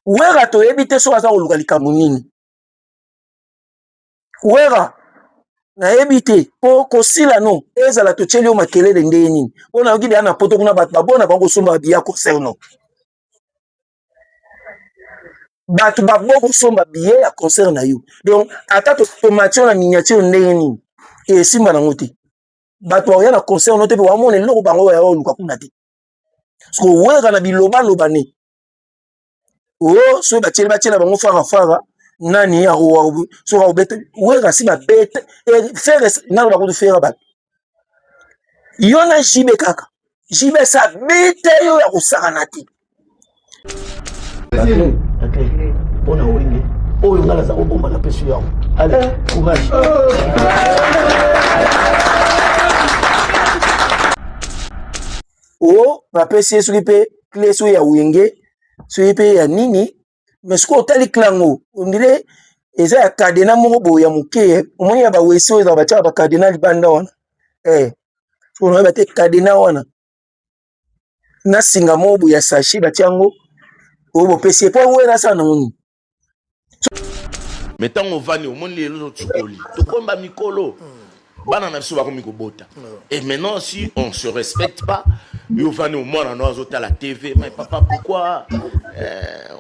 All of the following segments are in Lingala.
Wera toyebi te soki aza koluka likambo nini. Wera nayebi te mpo kosila no ezala totyeli yo makelele ndenge nini mpo nayoki deya na poto kuna bato babona bango kosomba babiya concert no bato babo kosomba biye ya concert na yo donc ata tomati yo na miniature ndenge nini esimba nango te bato bakoya na concert no te mpe bamona eloko bango yaya oluka kuna te soki owelaka na bilobaloba ne o oh, soki batyeli batyela bango farafara nani soki akobeta welaka si babete eh, fere naloba kutu fere bato yo na jibe kaka jibe esi abeta yo ya kosakana te mpona wenge oyo ngai naza kobomba na peso yango ale eh. courage o oh, bapesi ye soki mpe cle soki ya wenge soki mpe ya nini me soki otali clango ondire eza ya kadena moko boye ya moke eh. omoni ya bawesi oyo ezala batiaka bakadena libanda wana e eh. so onayebi te kadena wana na singa moko boye ya sachet batia yango oyo bopesi ye mpo yango ena asala nango nini me ntango ovandi omoni lelo notikoli tokomba mikolo bana na biso bakomi kobota et maintenant si on se respecte pas yo ovandi omwana no azotala tv mais papa pourquoi euh,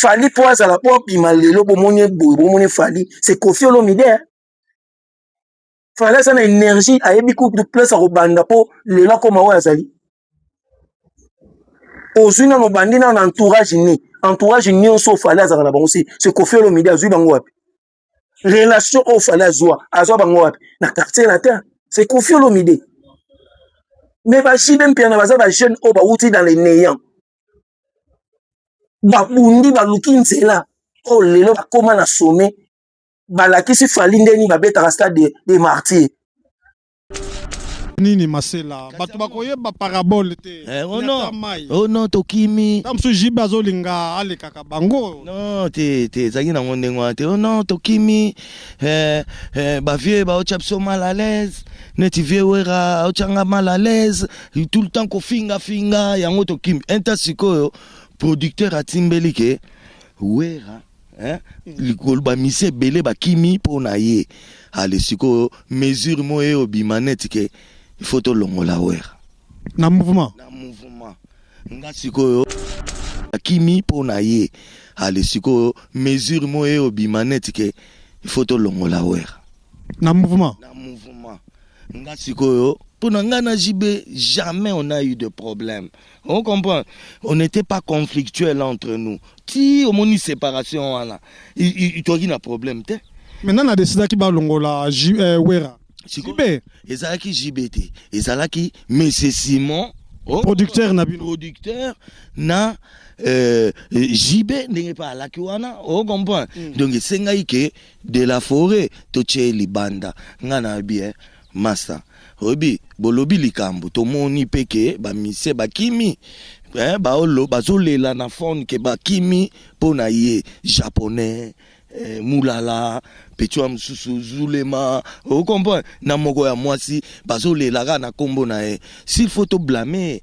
fali mpo azala mpo abima lelo bomoni eboye bomoni fali se kofi olomide eh? fali aza na energie ayebi kutu place akobanda mpo lelo akoma oyo azali ozwi nano obandi nano na entourage ni entourage nyonso fali azalaka na bango se kofi olomide azwi bango wapi relation oyo fale azwa azwa bango wapi na quartier latin c'est kofi olomide mais bajide mpiana baza bajeune oyo bawuti dans le néant babundi baluki nzela oyo lelo bakóma na sommet balakisi fali ndeni babetaka stade de, de martyr nini masela bato bakoyeba parabole te eh, oh no. mai oh no tokimi ta mosusu jibe azolinga alekaka bango no te te ezalaki nango ndenge wana te oh no tokimi eh, eh, bavieux baotya biso mal à l'aise neti vieux wera aotyanga mal à l'aise tout le temps kofingafinga yango tokimi inta sikoyo producteur atimbeli ke wera hein likolo ba misi ebele bakimi mpo na ye ale sikoyo mesure moyo ye obima neti ke il faut tolongola wera na mouvement na mouvement nga sikoyo akimi mpo na ye ale sikoyo mesure moyo ye obima neti ke il faut tolongola wera na mouvement na mouvement nga sikoyo mpo na nga na jb jamais on a eu de problème On comprend. On n'était pas conflictuel entre nous. Ti omoni séparation wana. Toki na problème te. Maintenant na décida ki balongola euh, Wera. JB ezalaki JB te. Ezalaki Monsieur Simon oh, producteur na bino producteur na euh, JB ndenge pa alaki wana o oh, comprend. Mm. Donc esengaki ke de la forêt to tie libanda. Nga na bien. Masta oyebi bolobi likambu tomoni pe ke ba musicien bakimi eh, baolo bazolela na phone ke bakimi mpo na ye japonais eh, mulala petua mosusu zulema okomprendre na moko ya mwasi bazolela kaka na kombo na ye s'il faut to blame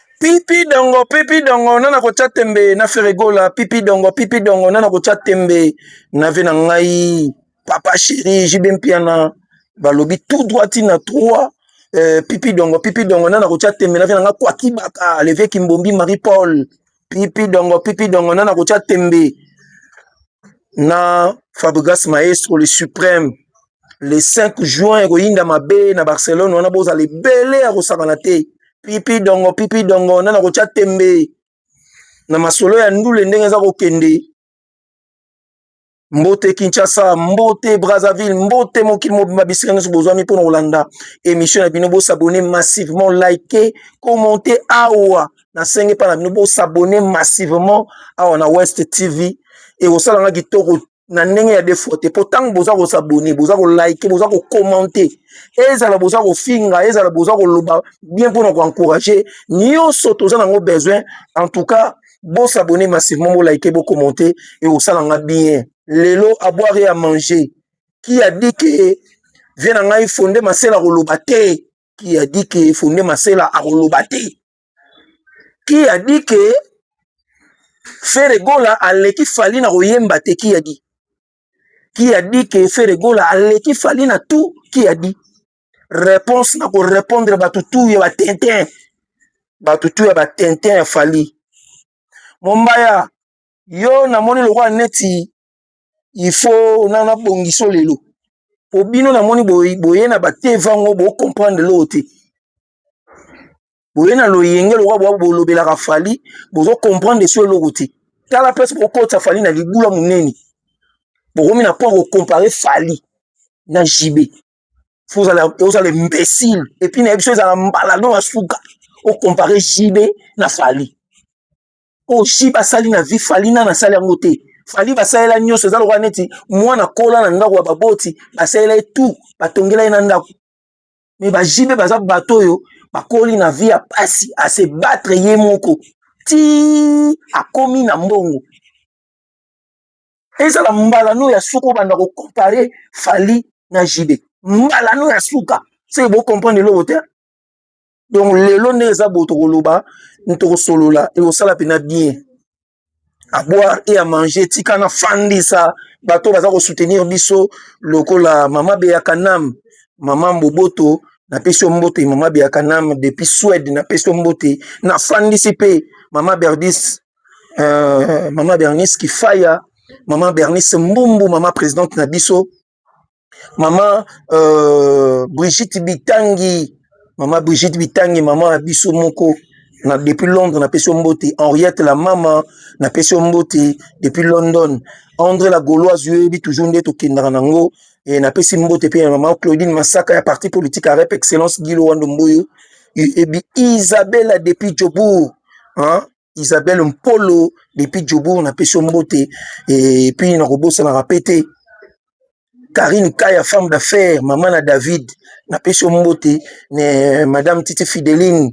Pipi dongo, pipi dongo, nana kotia tembe na Ferregola. Pipi dongo, pipi dongo, nana kotia tembe na vie na ngai. Papa chéri, JB Mpiana, balobi tout droit tina 3. Euh, pipi dongo, pipi dongo, nana kotia tembe na vie na ngai. Kwa kibaka, levier Kimbombi, Marie-Paul. Pipi dongo, pipi dongo, nana kotia tembe na Fabregas Maestro, le suprême. le 5 juin ekoyinda mabe na barcelone wana bozala ebele ya kosakana te pipi dongo pipi dongo nana kotya tembe na masolo ya ndule ndenge eza kokende mbote kinshasa mbote brazzaville mbote mokili mobimba bisika nyonso bozwami mpo na kolanda émission na bino bosabone massivement like commente awa nasengi mpa na bino bosabone massivement awa na west tv ekosala nga kitoko na ndenge ya defo te mpo ntango boza kosabone boza kolike boza kokomante ezala boza kofinga ezala boza koloba bien mpona koencourage nyonso toza nango besoin en tout cas bosabone massivement bolike bokomante ekosala nga bien lelo aboire ya manger ki a dit ke vie na ngai fonde masela koloba te ki a dit ke fonde masela akoloba te qui a dit que Ferre Gola aleki Fally na koyemba te qui a dit qui a dit que Ferre Gola aleki Fally na tout qui a dit réponse na ko répondre bato tout ya ba tintin bato tout ya ba tintin ya Fally Mombaya yo namoni lokola neti il faut na na bongiso lelo po bino namoni boye na ba te vango bo comprendre loo te boye na loyenge lokola bwa bolobelaka fali bozo comprendre so eloko te tala place bokotisa fali na libula monene bokomi na mpo ya kocompare fali na jibe ozala imbécile epuis na ye biso ezala mbala no ya suka ocompare jibe na fali oyo oh, jibe asali na vie fali nani asali yango te fali basalela nyonso eza lokola neti mwana kola na ndako ya baboti basalela ye tout batongela ye na ndako mais ba JB baza bato oyo bakoli na vie ya pasi à se battre ye moko ti akomi na mbongo ezala mbala no ya suka obanda ko comparer Fally na JB mbala no ya suka se bo comprendre eloko te donc lelo nde eza boye tokoloba tokosolola ekosala mpena bien à boire et à manger tika na fandisa bato baza ko soutenir biso lokola mama beya kanam mama mboboto na pesi mbote mama beya kanam depuis Suède na pesi mbote na fandisi pe mama Berdis euh, mama Bernice Kifaya mama Bernice Mbumbu mama présidente na biso mama euh, brigitte bitangi mama brigitte bitangi mama ya biso moko na depuis londres napesi yo mbote henriette la mama napesi yo mbote depuis london andre la gauloise yo yebi toujours nde tokendaka nango e, napesi mbote mpe ya mama claudine masaka ya parti politique ya rep excellence gilo wando mboyo ebi isabella depuis jobourg Isabelle Mpolo depuis Jobourg na peso mbote et puis na kobosana rapete Karine Kaya femme d'affaires maman na David na peso mbote ne madame Titi Fideline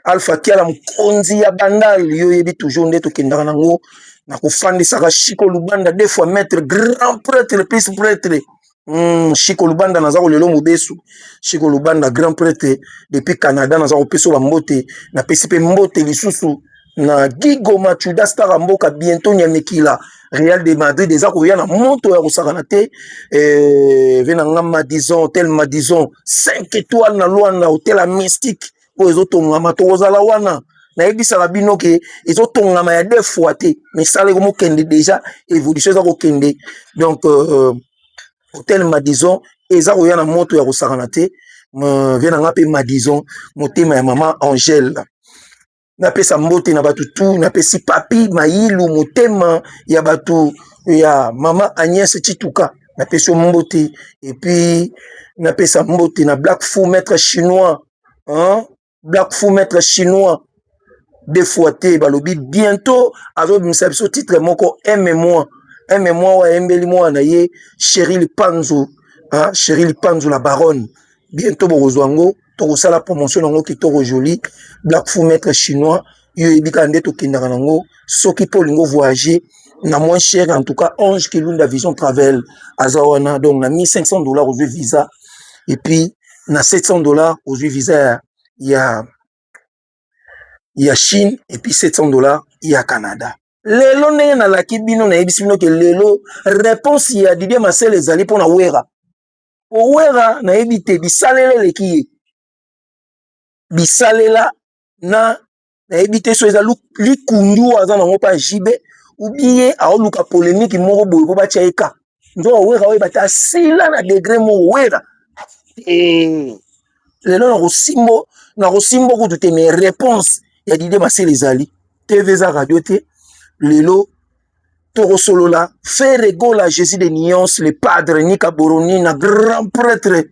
Alpha Kiala mkonzi ya bandal yo yebi toujours nde tokendaka nango na kofandisaka Chico Lubanda deux fois maître grand prêtre plus prêtre Mm, Chico Lubanda naza kolelo mobesu. Chico Lubanda grand prêtre depuis Canada naza kopesa ba mbote, na pesi pe mbote lisusu na Gigo Machuda Star mboka bientôt Nyamekila Real de Madrid eza koya na moto ya kosakana te eh, vena nga Madison hotel Madison 5 étoiles na Luanda hotel mystique oyo ezotongama tokozala wana nayebisaka bino ke ezotongama ya deux fois te misala ekomokende déjà évolution eza kokende donc euh, hotel madison eza koya na moto ya kosakana te vie na nga mpe madison motema ya mama angele napesa mbote na bato tu napesi papi mayilu motema ya bato ya mama agnès chituka napesi yo mbote epuis napesa mbote na black fou maître chinois hein? black fou maître chinois deux fois te balobi bientôt azobimisa biso titre moko aime moi aime moi oyo ayembeli mwana na ye chéri lipanzo hein? chéri lipanzo la baronne bientôt bokozwa yango tokosala promotion na yango kitoko joli black fou maître chinois yo oyebi kaka nde tokendaka nango soki mpo olingi ovoyage na moins cher en tout cas ange kilunda vision travel aza wana donc na 1500 dollars ozwi visa et puis na 700 dollars ozwi visa ya, ya, ya chine et puis 700 dollars ya canada lelo ndenge nalaki bino nayebisi bino ke lelo réponse ya didie masel ezali mpo na wera po wera nayebi te bisalela eleki ye bisalela na nayebi te so eza likundu aza nango mpa jb ubie aoluka polemiki moko boye mpo batya ye ka nzoka wera oyo bata asila na degre moko wera eh, lelo nakosimbo nakosimbo kutu te mais réponse ya dide masele ezali tv eza radio te lelo tokosolola Ferre Gola Jésus de Nuance le padre Nika Boronina grand prêtre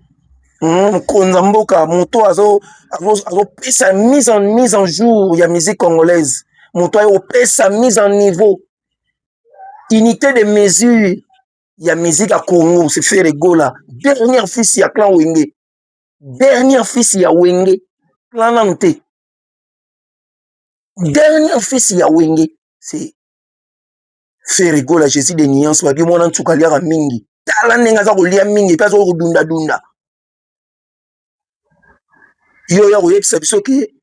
hmm, mokonza mm, mboka moto azopesa azo mise en mise en jour ya musique congolaise moto aye kopesa mise en niveau unité de mesure ya musique ya Congo c'est Ferre Gola dernière fils ya clan Wenge dernière fils ya Wenge clan nanu te dernier fils ya wenge c'est ferre gola jésus de nuance babi mwana nsuka aliaka mingi tala ndenge aza kolia mingi mpe aza kodunda dunda yo oya koyebisa biso ke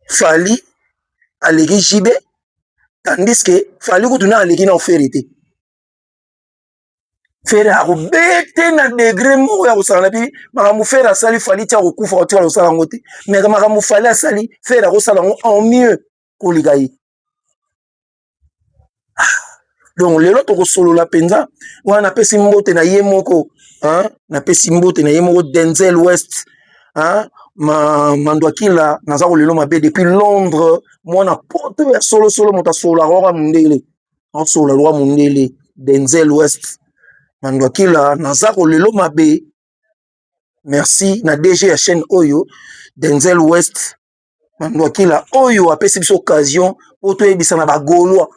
fali aleki jibe tandis ke fali kutu na aleki na ofere te fere akobete na degre moko ya kosala na bini makambo fere asali fali ti akokufa otika kosala yango te me makambo fali asali fere akosala yango en mieux koleka ye ah, donc lelo tokosolola mpenza wana napesi mbote na ye moko napesi mbote na ye moko denzel west hein? ma mandwakila naza kolelo mabe depuis londres mwana poto ya solosolo moto asololaka waka mondele Asola lwa mundele denzel west na ndwakila naza ko lelo mabe merci na DG ya chaine oyo denzel west na ndwakila oyo apesi biso occasion po toyebisa na ba golois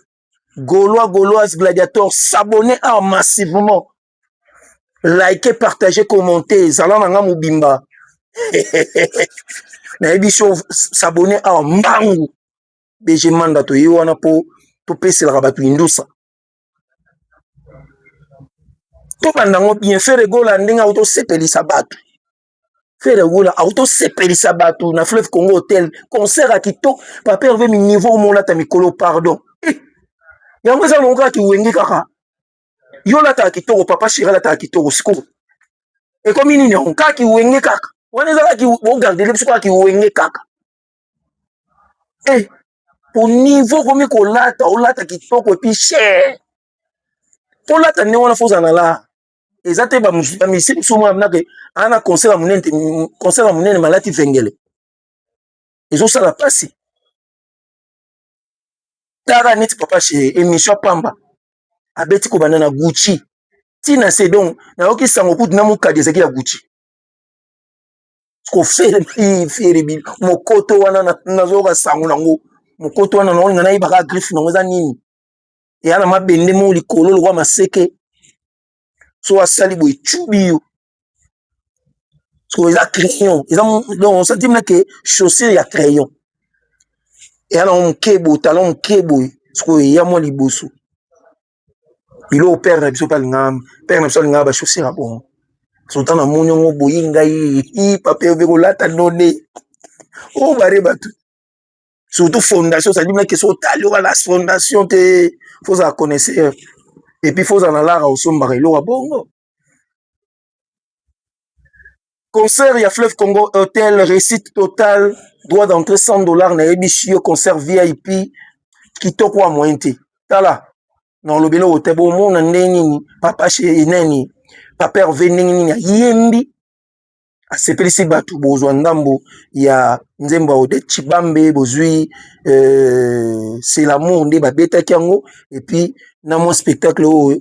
golois goloise gladiator sabone awa massivement like partage commente zala na nga mobimba nayebi so sabone awa mbangu DG Manda toye wana mpo topeselaka bato indusa tobanda yango bien fere gola ndenge auti osepelisa bato fere gola auti osepelisa bato na fleuve congo hotel concert ya kitoko papa herve miniveau omolata mikolo pardon eh, yango eza longo kaka kiwenge kaka yo olataka kitoko papa sheri alataka kitoko sikoyo ekomi nini yango kaka kiwenge kaka wana eza kaka ogarde biso kaka kiwenge kaka hey, eh, au niveau okomi kolata olata kitoko epi cher tolata ndenge wana fozala na la eza te bamisi mosusu mwana minake aa na concert ya monene te concert ya monene malati vengele ezosala mpasi tara neti papa che émission pamba abeti kobanda na gucci ntina se donc nayoki sango kutu na mokadi ezalaki ya gucci kofereferibi mokoto wana nazoyoka sango nango mokoto wana nango nga nayebaka griffe nango eza nini eya na mabende moko likolo lokwa maseke so asali boye cubi yo eza crayon eza donc osantime nake chaussure ya crayon eya nango moke boye talon moke boye sikoyo eya mwa liboso biloko pere na biso mpe alingaka pere na biso alingaka ba chaussure ya bongo sota na moni yango oboyi ngai ii papa obe kolata nonne o bare batu surtout fondation cest à dire meme que soki otali oza na fondation te fo ozala connaisseur et puis fo ozala na lar ya kosombaka eloko ya bongo. concert ya fleuve congo hotel réussite total droit d'entrée 100 dollars nayebisi yo concert vip kitoko ya moyen te tala na olobi eloko te bomona ndenge nini papa chez nani papa herve ndenge nini ayembi asepelisi bato bozwa ndambo ya nzembo ya odete chibambe bozwi euh, c'est l'amour nde babetaki yango epuis na mwa spectacle oyo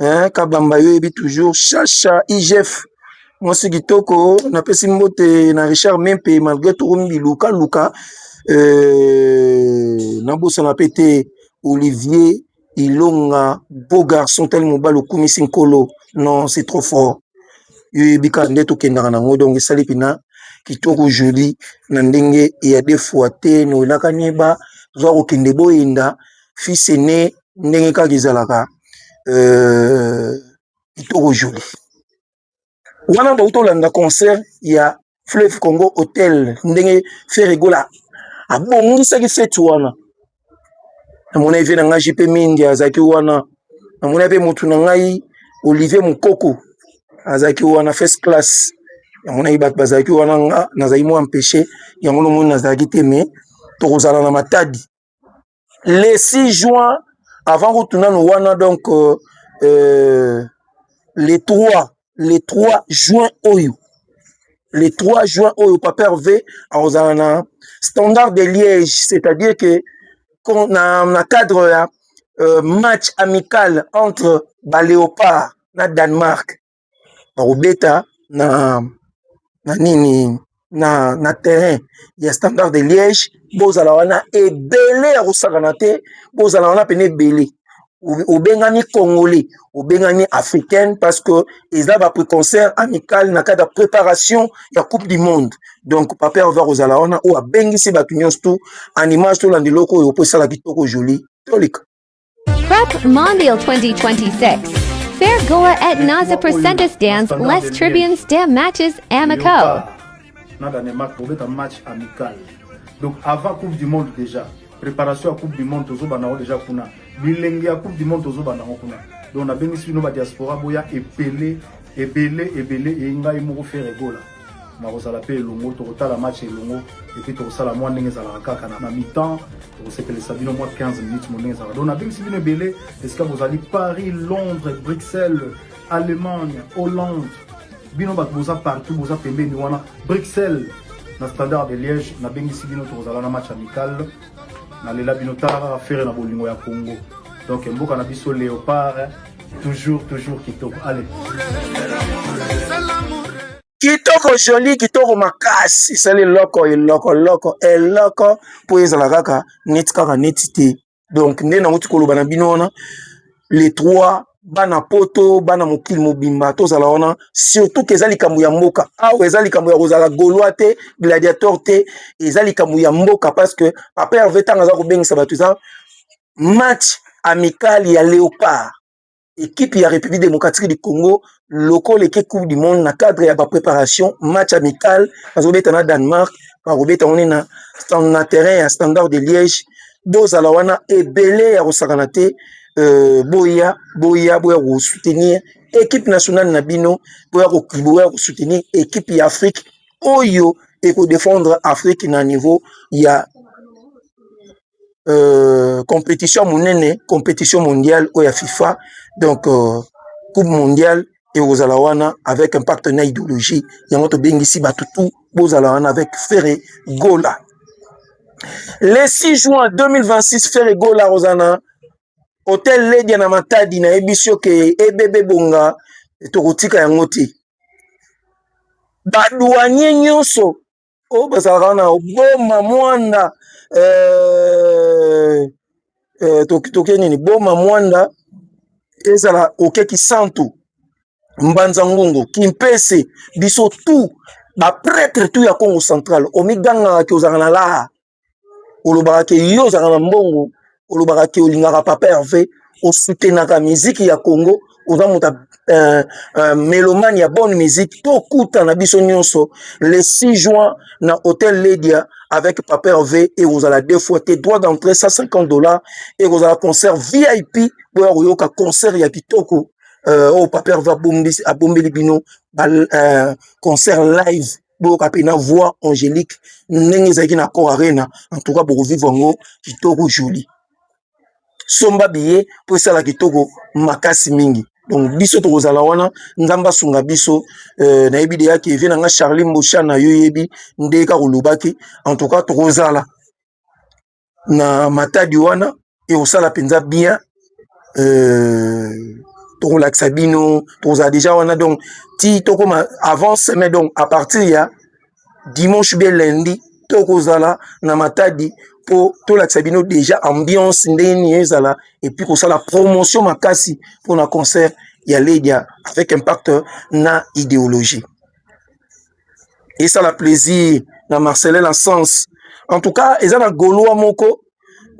eh, kabamba yo yebi toujours shasha igf mwasi kitoko napesi mbote na richard mimpe malgré tokomi biluka luka eh, nabosana pe te olivier ilonga beau garçon tali mobali okumisi nkolo non c'est trop fort yo yebi kaka nde tokendaka nango donc esali mpena kitoko joli na ndenge ya defoi te noelaka nyeba zwa kokende boyenda fils aine ndenge kaka ezalaka kitoko jolie wana bawuti kolanda concert ya fleve congo hotel ndenge fere gola abongisaki feti wana na mona eve na ngai jp mingi azalaki wana na mona pe motu na ngai olive mokoko azalaki wana fest classe na monaki bato bazalaki wana nga nazalaki mwa mpeche yango na moni nazalaki te me tokozala na matadi le 6 juin avant kutu nanu wana donc euh, euh, le 3 le 3 juin oyo le 3 juin oyo papa herve akozala na standard de liège c'est-à-dire que na, na cadre ya euh, match amical entre baléopard na danemark bakobeta na na nini na na terrain ya standard de liège bozala wana ebele ya kosakana te bozala wana pene ebele obengani congolais obengani africaine parce que eza ba preconcert amical na kati ya préparation ya coupe du monde donc paper oza kozala wana oyo abengisi bato nyonso to animage tolanda eloko oyo mpo esala kitoko joli toleka Prep Mondial 2026 Fair Goa et Naza Presentes Dance Les Tribunes des Matches Amicaux na Danemark bobeta match amical donc avant coupe du monde déjà préparation ya coupe du monde tozobanda yango déjà kuna bilenge ya coupe du monde tozobanda yango kuna donc nabengisi bino badiaspora boya ebele ebele ebele eyi ngai moko fere egola nakozala mpe elongo tokotala match elongo epuis tokosala mwa ndenge ezalaka kaka na mitan tokosepelisa bino mwa 15 minutes mo ndenge ezalaka donc nabengisi bino ebele esika bozali paris londres bruxelles allemagne hollande bino bato boza partout boza pembeni wana bruxelles na standard de liège nabengisi bino tokozala na match amical nalela bino tala kaka fere na bolingo ya congo donc mboka na biso leopard Toujours, toujours kitoko. Allez. Kitoko jolie, kitoko makasi. Sali loko, eloko, loko, eloko. Po ezala kaka, neti kaka, neti te. Donc, nde na wuti koloba na bino wana. Les trois, bana poto, bana mokili mobimba, tozala wana. Surtout que eza likambo ya mboka. Awa eza likambo ya kozala gaulois te, gladiateur te. Eza likambo ya mboka parce que papa Hervé tanga aza kobengisa bato eza match amical ya leopard ekipe ya république démocratique du congo lokola eke coupe du monde na cadre ya bapreparation match amical bazobeta na danemark bakobeta wana na, na terrain ya standard de liège bozala wana ebele ya kosakana te euh, boya boya boya kosoutenir ekipe nationale na bino boya boya kosoutenir ekipe ya afrique oyo ekodefendre afrique na niveau ya euh, competition monene competition mondiale oyo ya fifa donc euh, coupe mondiale ekozala wana avec impact na idéologie yango tobengisi bato tu bozala wana avec fere gola le 6 juin 2026 fere gola akozala na hotel ledia na matadi nayebisi yo ke ebebe bonga tokotika yango te badouanier nyonso oyo bazalaka na boma mwanda eh, eh, toke nini boma mwanda ezala oke kisantu mbanza ngungu kimpese biso tu bapretre tu ya congo central omigangaka ke ozalaka na laha olobaka ke yo ozalaka na mbongo olobaka ke olingaka papa herve osutenaka miziki ya congo oza moto uh, uh, melomane ya bonne musique tokutana biso nyonso le 6 juin na hotel ledia avec papa herve ekozala deux fois te droit d'entrée 150 dollars ekozala concert vip boya koyoka concert ya kitoko euh, oyo oh, papa herve abombeli bino ba, uh, concert live boyoka mpe na voix angélique ndenge ezalaki na cor arena en tout cas bokovivre yango kitoko joli somba biye mpo esala kitoko makasi mingi donc biso tokozala wana nzambe asunga biso euh, nayebi deya ke vie na nga charli mbosha na yo yebi nde kaka olobaki en tout cas tokozala na matadi wana ekosala mpenza bien euh, tokolakisa bino tokozala deja wana donc ti tokoma avant semaine donc à partir ya dimanche bien lundi tokozala na matadi mpo tolakisa bino deja ambiance ndenge nini ezala epuis kosala promotion makasi mpo na concert ya ledia avec impact na idéologie esala plaisir na Marcelin na sens en tout cas eza na golois moko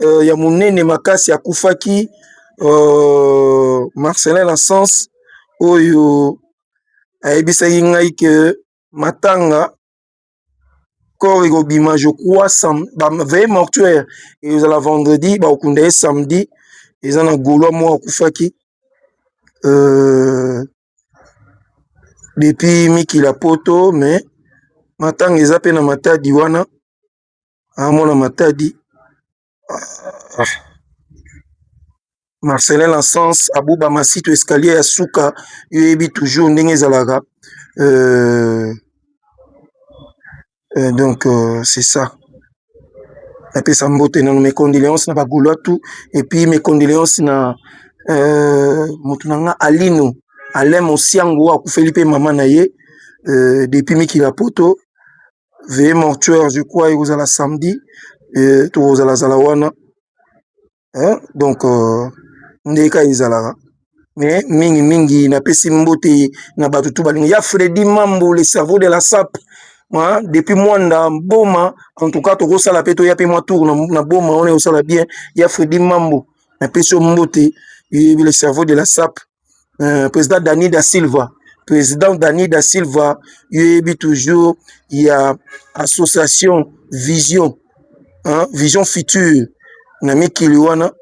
euh, ya monene makasi akufaki euh, Marcelin na sens oyo ayebisaki ngai ke matanga corps ekobima je crois sam veille mortuaire ezala vendredi bakokunda ye samedi eza na golois moko akufaki euh, depuis mikili ya poto mais matanga eza pe na matadi wana azo mona matadi Marcelin na sens abuba masito escalier ya suka yo oyebi toujours ndenge ezalaka. donc c'est ça na pesa mbote na mes condoleances na ba golois tout et puis mes condoleances na mutu na nga Alino Alain Mosiango oyo akufeli pe mama na ye depuis mikila poto veuillez mortuaire je crois ekozala samedi tokozala zala wana donc nde ka ezalaka me mingi mingi napesi mbote na bato tu balingo ya fredi mambu le cerveau de la sape depuis mwanda boma en tout cas tokosala pe toya pe mwa tour na boma wana ekosala bien ya fredi mambu napesi yo mbote le cerveau de la sape euh, président dani da silva président dani da silva yo yebi toujours ya association vision hein? vision future na mikili wana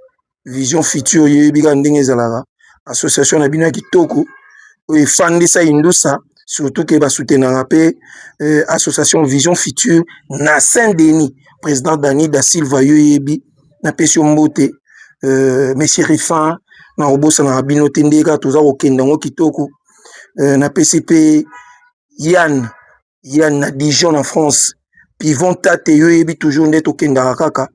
vision future yo yebi kaka ndenge ezalaka association na bino ya kitoko oyo efandisa indusa surtout ke basutenaka mpe euh, association vision future na saint denis président dani da silva yo yebi napesi yo mbote euh, monsieur Rifan na kobosanaka bino te ndenge kaka toza kokenda yango kitoko euh, napesi mpe Yann Yann na Dijon na France Pivon Tate yo yebi toujours nde tokendaka kaka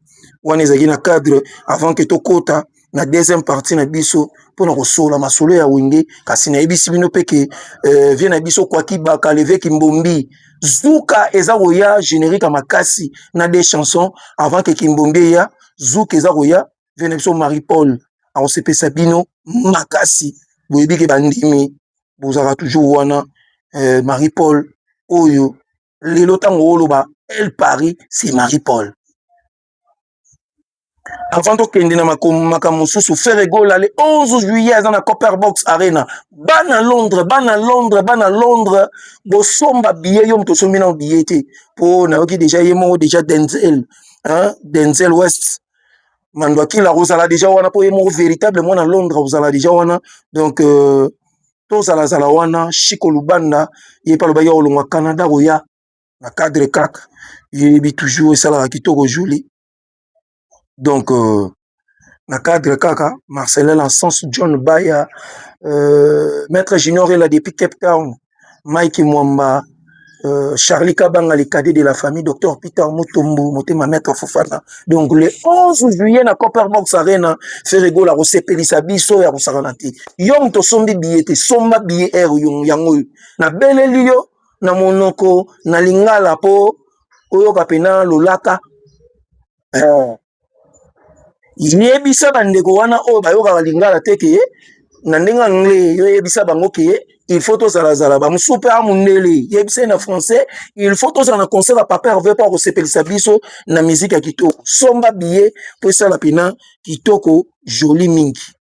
wana ezalaki na cadre avant que tokota na deuxième partie na biso mpo na kosola masolo ya wenge kasi nayebisi bino mpe ke euh, vie na biso kwaki baka leveki mbombi zuka eza koya generique ya makasi na de chanson avant ke kimbombi eya zuka eza koya vie na biso marie paul akosepesa bino makasi boyebi ke bandimi bozalaka toujours wana eh, marie paul oyo lelo ntango oloba el paris c'est marie paul avant tokende na makambo mosusu ferre gola le 11 juillet aza na copper box arena bana londres bana londres bana londres bosomba biye yo moto osombi nao biye te mpo nayoki deja ye moko deja denzel hein? denzel west mandwakila akozala deja wana mpo ye moko véritable mwana londres akozala deja wana donc euh, tozalazala wana shiko lubanda ye mpe alobaki akolongwa canada koya na cadre kaka yebi toujours esalaka kitoko juli donc euh, na cadre kaka marcelin na sens john baya euh, maître junior ela depuis cape town mike mwamba euh, charlie kabanga le cadet de la famille docteur peter mutombu motema maître fofana donc le 11 juillet na copperbox arena feregola kosepelisa biso ya kosakana te yo moto osombi biye te somba biye r yango oyo nabeleli yo na monoko na lingala mpo oyoka mpena lolaka eh. yebisa bandeko wana oyo bayokaka lingala te ke na ndenge anglais yo yebisa bango ke il faut tozalazala bamosusu mpe a mondele yebisa ye na français il faut tozala na concert ya papa herve mpo akosepelisa biso na miziki ya kitoko somba biye mpo esala mpena kitoko joli mingi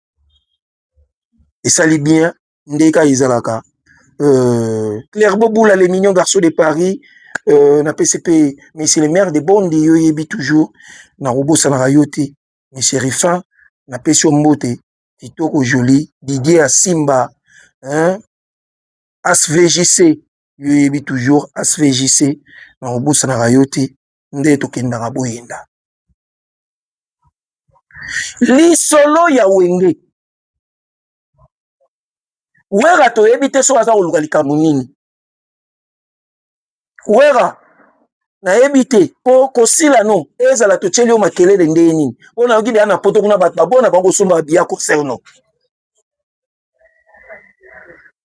esali bien nde ka ezalaka euh, claire bobula le mignon garçon de paris euh, na pesi mpe monsieur le maire de bondi yo oyebi toujours nakobosanaka yo te monsieur rifin napesi yo mbote kitoko joli didier asimba hein? svjc yo oyebi toujours svjc nakobosanaka yo te nde tokendaka boyenda lisolo ya wenge wera toyebi te soki aza koluka likambo nini wera nayebi te mpo kosila no ezala totyeli yo makelele ndenge nini mpo nayoki deya na poto kuna bato babona bango kosomba babiya concert no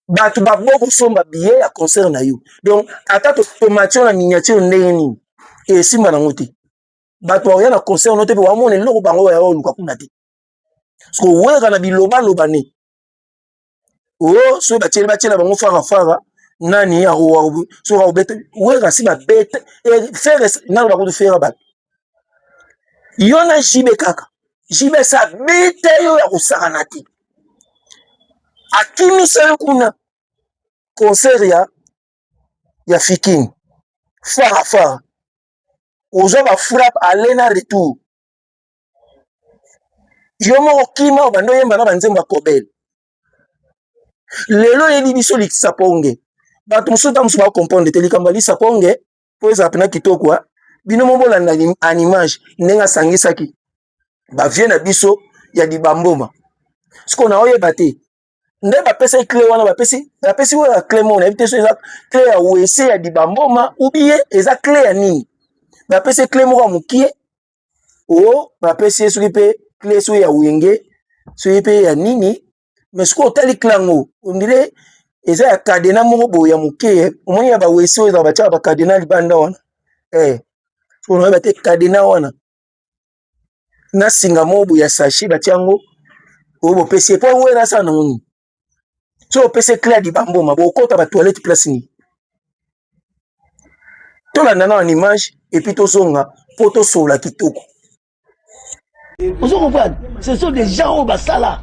bato babo kosomba biye ya concert na yo donc ata tomatio na miniature ndenge nini esimba nango te bato bakoya na concert no te mpe bamona eloko bango bayaoluka kuna te soko werra na bilobaloba ne o oh, soki batyeli batyela bango farafara nani soki akobeta werra si babete eh, fere nano bakutu fera bato yo na jibe kaka jibe esi abeta yo ya kosakana te akimisa yo kuna concert ya ya fikin farafara oza bafrappe ale na retour yo moko kima obanda oyemba na banzembo ya kobele lelo oyebi biso likisa ponge bato mosusu ntango mosusu bakompondre te likambo ya lisa ponge mpo ezala mpena kitoko bino mo bolanda animage ndenge asangisaki bavie na biso ya libamboma sikoyo naoyeba te nde bapesaki cle wana bapesi bapesi oyo ya cle moko nayebi te so eza cle ya wese ya dibamboma ubie eza cle ya nini bapesi cle moko ya mokie o bapesi ye soki mpe cle soki ya wenge soki mpe ya nini mais soki otali cle yango ondire eza ya kadena moko boye ya moke eh. omoni ya bawese oyo ezaka batyaka bakadena libanda wana eh. onayebi te kadena wana na singa moko boye ya sache batie yango oyo bopesi ye mpo yango ena asala nango nini so opesi ekla ya libamboma bokota batoilette place nini tolanda na wana image epuis tozonga mpo tosolola kitoko ozo comprendre ce sont des gens oyo basala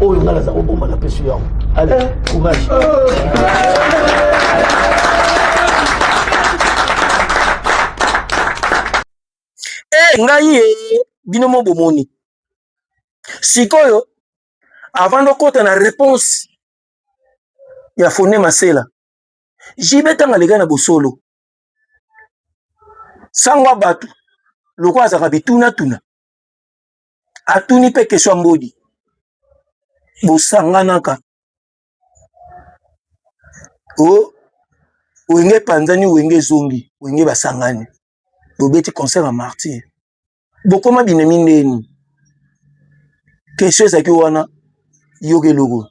oyo ngai naza kobomba na pesi yango ale eh. courage eh, ngai ye eh, bino mo bomoni sikoyo avant dokota na réponse ya fone masela jibe ntango aleka na bosolo sango ya bato lokola azalaka bitunatuna atuni mpe kesho ya mbodi bosanganaka o oh, wenge epanzani wenge ezongi wenge basangani bobeti concert ya martyr bokoma binemi ndeni kesho ezalaki wana yoka eloko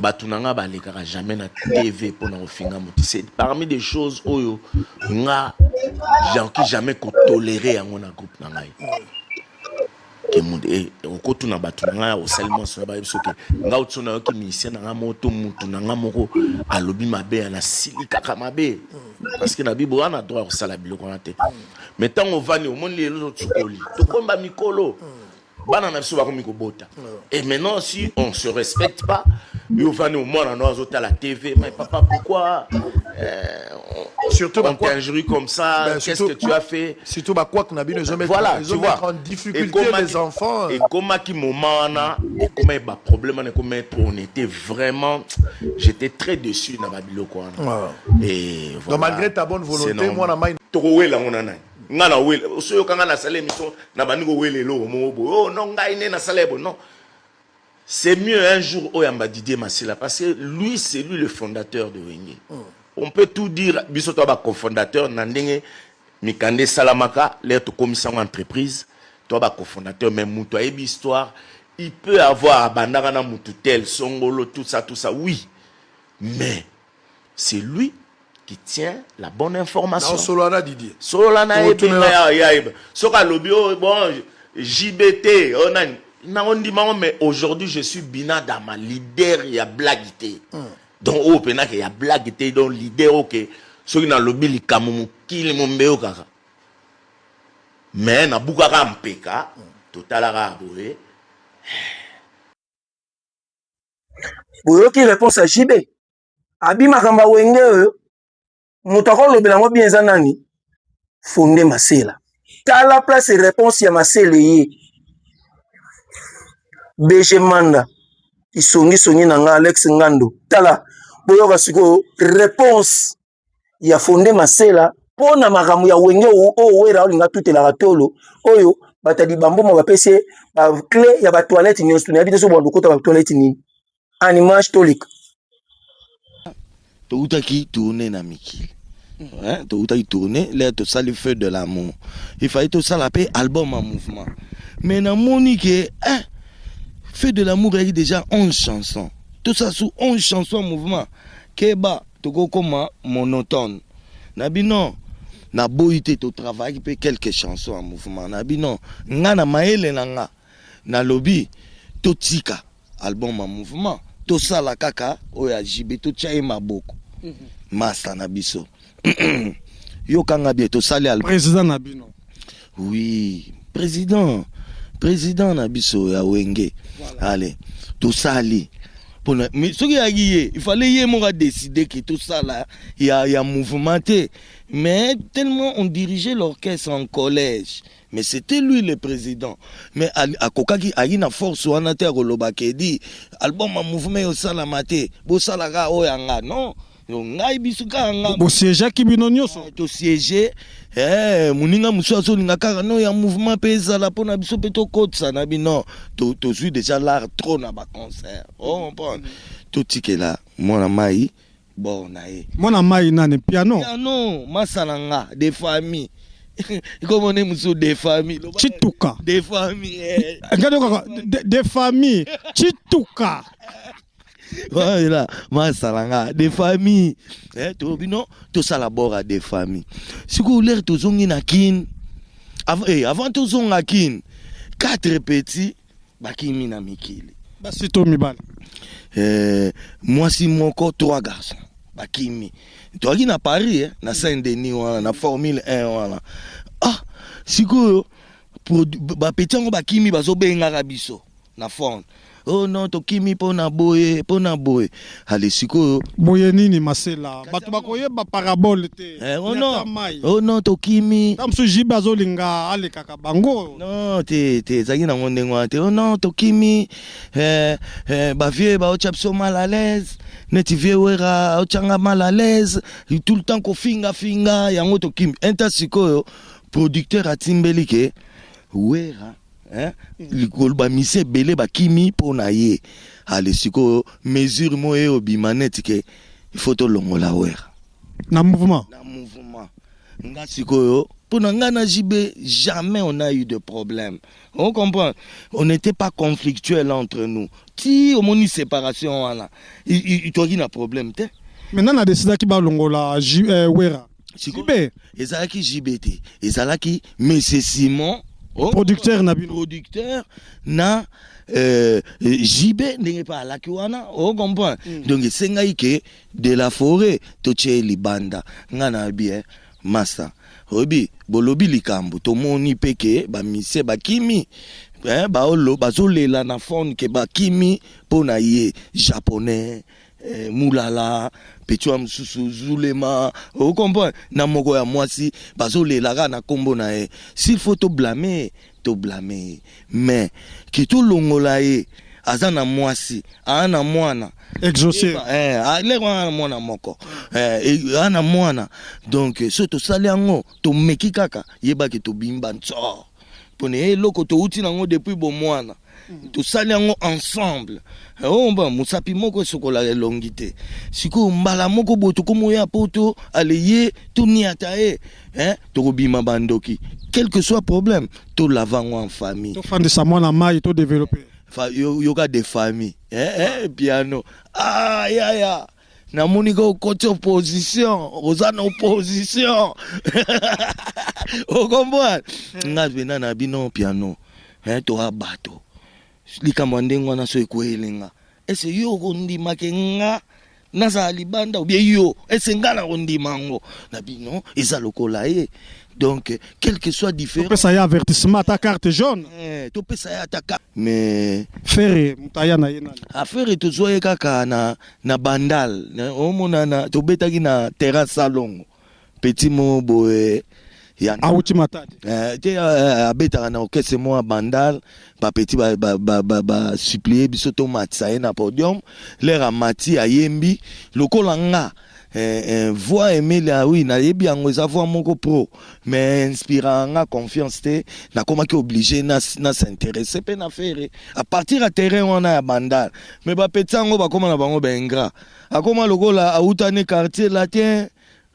batu na nga balekaka jamais na tv pona kofinga mutu c'est parmi des choses oyo nga janki jamais kotolere yango na groupe na ngai eh, okotuna bato na ngai osali mwanso na bayebi soki nga oti so nayoki minisien na ngai moko to mutu na ngai moko alobi mabe ya nasilikaka mabe parceke na bibo wana droit ya kosala biloko wana te mais ntango ovandi omoni lelo tokoli tokomba mikolo bana na biso bakomi kobota et maintenant si on se respecte pas yo vani omwana no azotala tv mais papa pourquoi euh, surtout on t'injurie comme ça ben, qu'est-ce que tu as fait surtout bakwak na bino ezomettre voilà, tu vois, en difficulté les enfants ekomaki moment wana ekomaki baproblème wana ekomaki po on était vraiment j'étais très déçu na babiloko wana et voilà, donc malgré ta bonne volonté mwana mai tokowela yango na nani nga na wele oso yoka nga nasala émission na bandi kowela eloko moko boye oh non ngai nde nasala ye boye non c'est mieux un jour oyamba didier masila parce que lui c'est lui le fondateur de wenge mm. on peut tout dire biso toya bacofondateur na ndenge mikanda esalamaka lere tokomisa yango entreprise toya bacofondateur mais moto ayebi histoire il peut avoir abandaka na motu tel songolo tout ça tout ça oui mais C'est lui qui tient la bonne information. Non, solo na Didier. Solo na na ebenga ya ya eba. Soka lobi oh, bon JBT oh nani. Na ondi mango mais aujourd'hui je suis Bina Dama leader ya blague te. Hmm. Donc oh pena que ya blague te donc leader OK. Soki na lobi likamu mukili mombeo kaka. Mais na bukaka mpeka hmm. totalaka boye. Eh. boyoki réponse ya JB abi makambo ya wenge oyo moto akolobela yango bien eza nani fonde masela tala place réponse ya masela eye bg manda kisongisongi na nga alex ngando tala boyoka sikoyo réponse ya fonde masela mpo na makambo ya wenge oyo wera olinga atutelaka tolo oyo bato ya libamboma bapesi ye baclé ya batoilette nyonso nayebi te so bando okota batoilette nini animage toleka towutaki tourne na mikili mm. towutaki tourne le tosali feu de l'amour ifai tosala mpe album ya mouvement mais namoni ke eh, feu de l'amour eyaki déjà 11 chanson tosala su 11 chanson ya mouvement keba Toko koma monotone na bino. Na boyi te to travaillaki pe quelques chansons ya mouvement na bino. Nga na mayele na nga na lobi to tika album ya mouvement to sala kaka oyo ya JB to tia ye maboko. Masta na biso yoka nga bien to sali album. President na bino. Oui, president president na biso ya wenge ale tosali pona mais soki yaki ye il fallait ye moko adeside ke tosala ya, ya mouvement te mais tellement on dirigeait l'orchestre en collège mais c'était lui le président mais akokaki ayi na force wana te ya koloba kedi album ya mouvement eyosalama te bosalaka oyo yanga non yo ngai biso kaka nga bosiejaki bino nyonso eh, tosiege eh, moninga mosusu azolinga kaka no ya mouvement mpe ezala mpo na biso mpe tokotisa na bino tozwi déjà lar trop na baconcert ocompone oh, totikela mwana mai bor na ye mwana mai nani piano piano masala nga de famille ikomone mosusu de famille cituka de famille eh. ngai de famille cituka voilà masala nga de famille eh, to bino tosala bora de famille sikoyo lere tozongi na kin avant, eh, avant tozonga kin quatre petits bakimi na mikili basi to mibali eh, mwasi moko trois garçons bakimi toyaki na paris eh, na saint denis wana na formule 1 wana ah sikoyo bapeti yango bakimi bazobengaka biso na fone oh non tokimi mpo na boye mpo na boye ale sikoyo boye nini masela bato bakoyeba parabole te eh, oh non, oh non tokimi ta mosusu jibe azolinga alekaka bango non te te ezalaki nango ndenge wana te oh non tokimi eh, eh, bavieux baotya biso mal à l'aise neti vieux wera aotyanga mal à l'aise tout le temps kofingafinga yango tokimi inta sikoyo Producteur atimbeli ke Werra hein likolo ba misi ebele bakimi mpo na ye ale sikoyo mesure mo ye obima neti ke il faut tolongola Werra na mouvement na mouvement nga sikoyo mpo na nga na JB jamais on a eu de problème on comprend on n'était pas conflictuel entre nous ti omoni separation wana toki na problème te Maintenant na decidaki balongola Ju- eh, Werra. Sikoyo ezalaki JB te, ezalaki Monsieur Simon oh, producteur na bino producteur na euh, JB ndenge pa alaki wana o comprend mm. donc esengaki ke de la forêt totye libanda nga na bien masta oyebi bolobi likambo tomoni mpe ke bamisie bakimi eh, bazolela na fone ke bakimi mpo na ye japonais eh, mulala petua mosusu zulema okomprendre oh, na moko ya mwasi bazolelaka na nkombo na ye s'il faut toblame toblame ye mais ke tolongola ye aza na mwasi aa na mwana exaucer eh, ah, leko aa na mwana moko eh, aa na mwana donc so tosali yango tomeki kaka yebaki tobimba nsor mpona eloko touti nango depuis bomwana Mm. tosali yango ensemble eh, omba oh, mosapi moko esokolaka elongi te sikoyo mbala moko boye tokoma oya poto aleye toniata ye eh, tokobima bandoki quelque soit problème tolava yango en famille tofandisa mwana mai todeveloppe yoka de famille eh, eh, piano ah, yaya namoni ko okoti opposition oza na opposition okomboa hmm. nga pena na bino piano eh, toa bato likambo ya ndenge wana so ekweyeli nga ese yo okondimake nga nazala libanda obie yo ese nga na kondima yango na bino eza lokola ye donc quel que soit différent topesa ye avertissement ata carte jaune eh, topesa ye ata carte mais ferre motaya na ye nani afere ah, tozwa ye kaka na na bandal omonana tobetaki na terrain salongo petit mo boye ya awuti matadi eh, te eh, eh, abetaka na orchestre mwa bandal bapeti basuplie biso tomatisa ye na podium lere amati ayembi lokola nga Eh, eh, voix Emile ah oui nayebi yango eza voix moko pro mais inspira nga confiance te nakomaki oblige na, na s'interesse mpe na fere à partir ya terrain wana ya bandal mais bapeti yango bakoma na bango baingra akoma lokola awutani quartier latin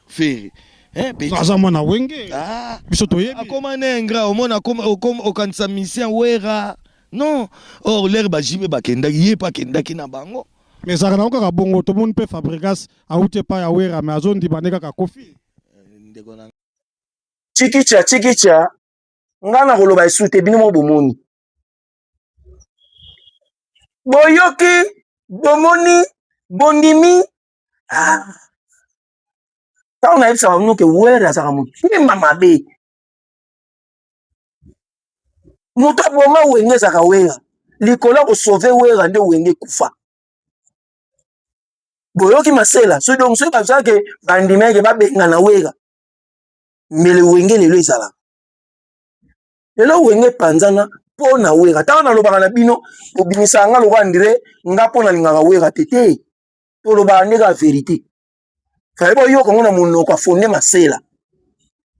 fere Eh, petit. aza mwana wenge Ah, biso toyebi akoma na ingra omona akoma- okoma- okanisa misien wera non or lere bajibe bakendaki ye mpe akendaki na bango Mais ezalaka nango kaka bongo tomoni mpe Fabregas awuti epai ya Wera mais azondima nde kaka Koffi. ndeko na chikicha chikicha ngai nakoloba esu te bino mo bomoni boyoki bomoni bondimi ah. ntango nayebisaka bino ke were azalaka motema mabe moto aboma wenge ezaka wera likolo ya kosauve wera nde wenge ekufa boyoki masela so donc soki bazalaki bandimeke babengana wera mbele wenge lelo ezalaka lelo wenge epanzana mpo na wera ntango nalobaka na bino bobimisaka nga lokola ndire nga mpo nalingaka wera te te tolobaka nde kaka verite fale boyoka yango na monoko afonde masela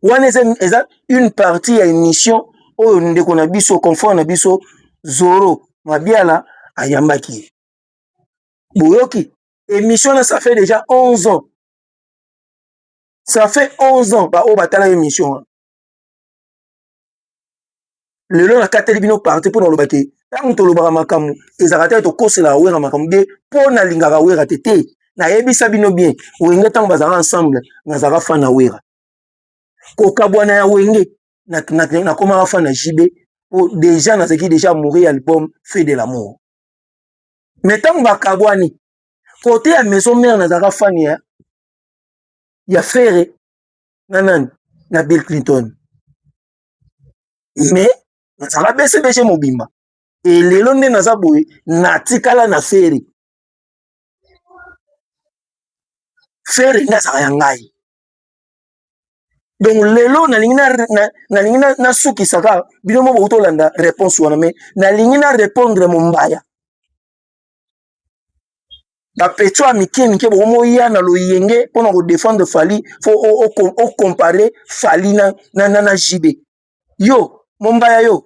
wana eza une partie ya émission oyo ndeko na biso confrère na biso zoro mabiala ayambaki ye boyoki émission wana ça fait déjà 11 ans ça fait 11 ans baoyo batala émission wana lelo nakateli bino parti mpo naloba ke ntango tolobaka makambo ezalaka te tokoselaka wera makambo de mpo nalingaka wera te te nayebisa bino bien wenge ntango bazalaka ensemble nazalaka fan na wera kokabwana ya wenge nakomaka fan na jb mpo deja nazalaki deja amoureux ya album fait de l'amour mais ntango bakabwani kote ya maison mare nazalaka fan ya ya fere na nani na bill clinton mais nazala bcbg mobimba elelo nde naza boye natikala na fere fere nde azala ya ngai donc lelo nalingi nalingi nasukisa kaka bino mo bouti olanda réponse wana mais nalingi na répondre mombaya bapetio ya mike mike bokomoya na loyenge mpona kodefendre fali fo ocompare fali na, na, na, na jb yo mombaya yo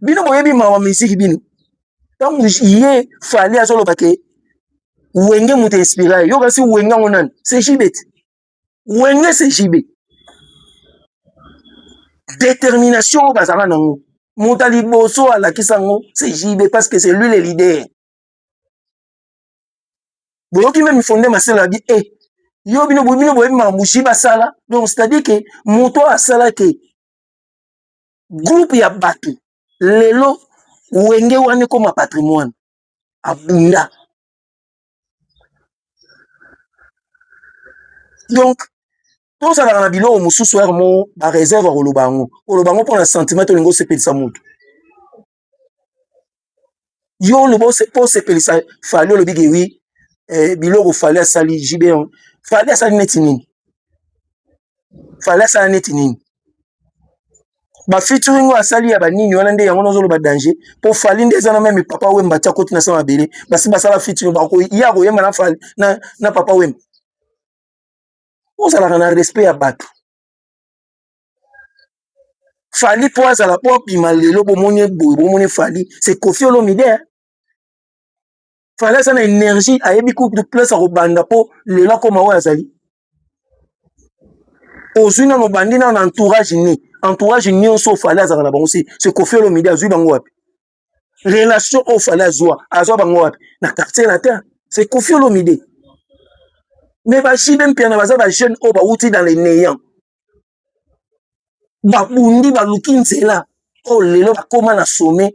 bino boyebi mawa miziki bino ntango ye fali azoloba ke wenge moto inspira ye yo kasi wenge yango nani se jb te wenge se jibe détermination oyo bazala nango moto ya liboso alakisa yango se jibe parce que c'est lui le leader boyoki meme fonde maselo abi e eh, yo bino bino boyebi makambo jibe asala donc c'est à dire que moto oyo asala ke groupe ya bato lelo wenge wana ekoma patrimoine abunda donc tozalaka na biloko mosusu yaka mo bareserve ya koloba yango koloba yango mpo na sentiment tolingi osepelisa motu yo oloba mpo osepelisa fali olobi ke wi eh, biloko fali asali jb fali asali neti nini fale asala neti nini ba featuring oyo asali ya banini wana nde yango nazoloba danger mpo fali nde eza na meme papa wemba atya koti na sa mabele basi basala featuring ye akoyemba na fali na, na papa wemba ozalaka na respect ya bato fali mpo azala mpo abima lelo bomoni boye bomoni fali se kofi olomide fala aza na energie ayebi kutu place akobanda mpo lelo akoma oyo azali ozwi nano obandi nano na entourage ni entourage nyonso oyo fale azalaka na bango se se kofi olomide azwi bango wapi relation oyo fale azwa azwa bango wapi na quartier latin se kofi olomide mais bajibe mpiana baza bajeune oyo bawuti dans le néant babundi baluki nzela oyo lelo bakóma na sommet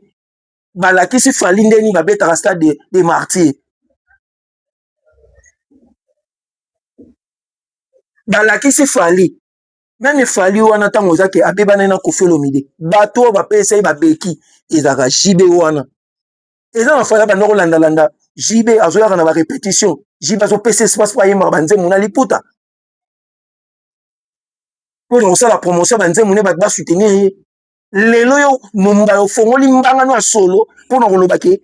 balakisi fali nde nini babetaka stade de, de martyr balakisi fali meme fali wana ntango eza ke abebana na kofelomide bato oyo bapesa ye babeki ezalaka jb wana eza na fali abanda kolandalanda jb azoyaka na barepetition jb azopesa espace mpo ayembaka banzembo na liputa mpo na kosala promotion ya banzembo ne bato basoutenir ye lelo yo mumba ofongoli mbanga no ya solo mpo na koloba ke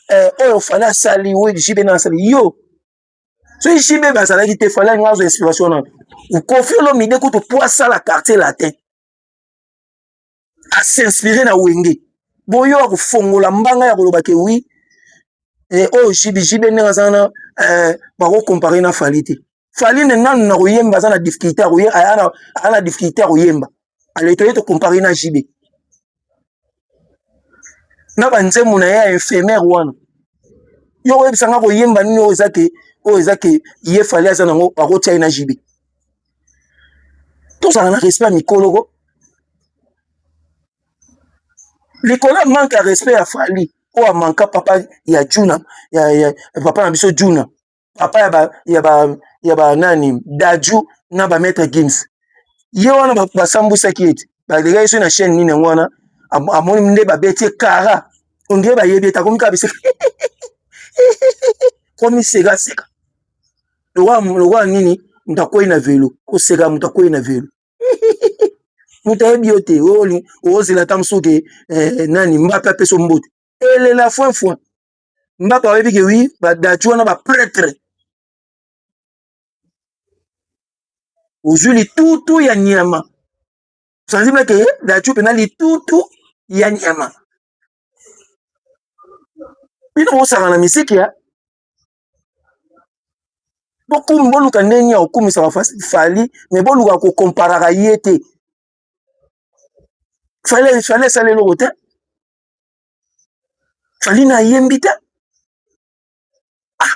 eh, oyo fale asali oyo jibe na asali yo soki jibe bazalaki te fale alinga azwa inspiration na kofi olomide kutu mpo asala quartier latin asinspire na wenge boyo akofongola mbanga ya koloba ke wi eh, oyo jibe jibe ndenge aza na eh, bakokompare na fali te fali ne nanu na koyemba aza na difficulté aza na difficulté ya koyemba aletoye tokompare na jb na banzembo na ye ya infirmière wana yo oyebisa nga koyemba nini oyo eza ke oyo eza ke ye fali aza nango akotia ye na jb tozala na respect ya mikoloko likolo ya manque ya respect ya fali oyo amanka papa ya juna ya, ya, papa na biso juna papa ya ba ya ba ya ba nani dadju na ba maître gims ye wana ba- basambwisaki ye te balekaki so na chaîne nini yango wana am- amoni nde babeti ye kara ondire bayebi ete akomi kaka biseka komi sekaseka lokola lokola nini moto akwei na velo koseka moto akwei na velo moto ayebi yo te oli- ozela ata mosusu ke eh, nani mbape apesa yo mbote elela foin foin nga ba yebi ke oui ba dati wana ba pretre ozwi litutu ya nyama sanzi meke eh, dati mpena litutu ya nyama bino bosaka na misiki ya bokumi boluka ndenge ya kokumisaka fali me boluka kokomparaka ye te fale fale esala eloko te fali na ayembi te ah.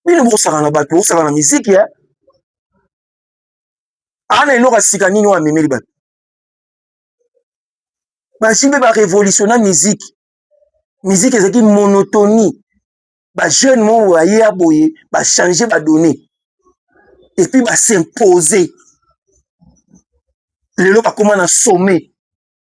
bino bokosaka na bato bokosaka na miziki e eh? ana eloko ya sika nini oyo amemeli bato basi mpe barevolutionna miziki miziki ezalaki monotonie bajeune moko baye ya boye bachange badonne epuis basimpose lelo bakóma na sommet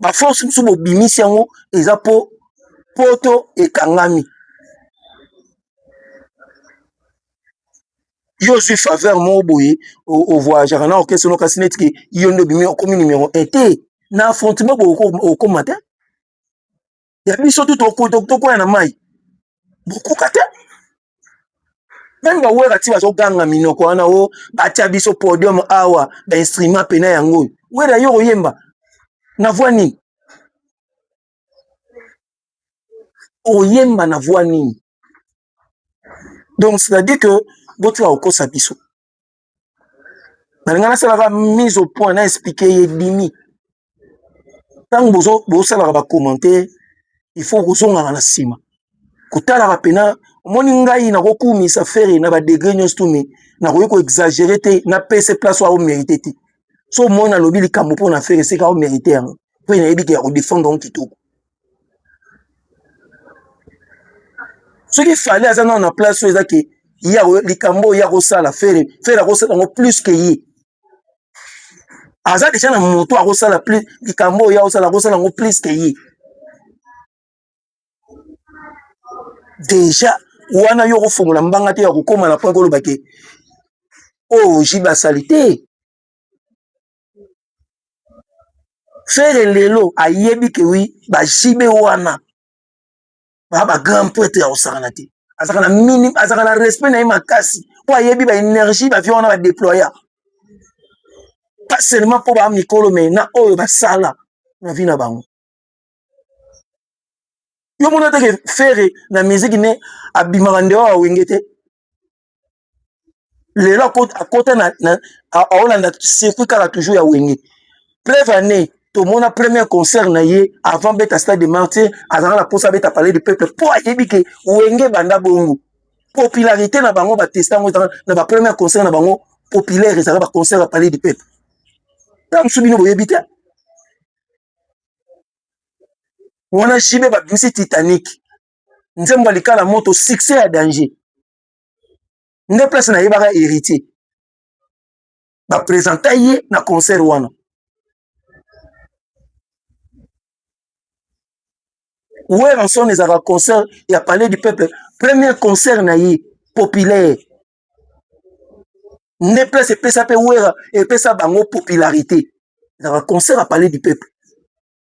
ba force mosusu bobimisi yango eza mpo poto ekangami yo ozwi faveur moko boye ovoyageaka na orchestre no kasi neti ke yo nde obimi okomi numero un te na affrontement boye okoma te ya biso tu tokwea na mai bokoka te meme bawera ti bazoganga minoko wana o oh, batya biso podium awa bainstrument pena yango oyo wera yo oyemba na voi nini oyemba na voi nini donc c'est-à-dire que botika kokosa biso nalinga nasalaka mise au point na explike ye dimi ntango bozosalaka bacommentaire il faut kozongaka na nsima kotalaka mpena omoni ngai nakokumisa fere na badegre nyonso tumi nakoki koexagere te napese place oyo aomerite te so omoni nalobi likambo mpo na fere esika aomerite yango mpe nayebi ke ya kodefendre yango kitoko soki fale aza nao na place oyo eza ke ye likambo oyo ye akosala fere fere akosala yango plus ke ye aza deja na moto akosala plus likambo oyo ye akosala akosala yango plus ke ye deja wana yo okofongola mbanga te ya kokoma na point koloba ke oyo oh, jibe asali te Ferre lelo ayebi que oui ba JB wana ba ba grand prêtre ya kosakana te azalaka na mini azalaka na respect na ye makasi mpo ayebi ba energie ba vieux wana ba deploya pas seulement mpo ba mikolo mais na oyo basala na vie na bango yo mona teke Ferre na musique ne abimaka ndewa wenge te lelo akota na, na aolanda circuit kaka toujours ya wenge preuve année tomona premier concert na ye avant beta stade de martyr azalaka na mposa abeta palais du peuple mpo ayebi ke wenge banda bongo popularité na bango batesta yango ezalaka na bapremier concert na bango populaire ezalaka baconcert ya palais du peuple ntango mosusu bino boyebi te wana jibe babimisi titanique nzembo ya likala moto succès ya danger nde place nayebaka héritier bapresenta ye na concert wana weranson ezalaka concert ya palais du peuple premier concert na ye populaire nde place epesa mpe wera epesa bango popularité ezalaka concert ya palais du peuple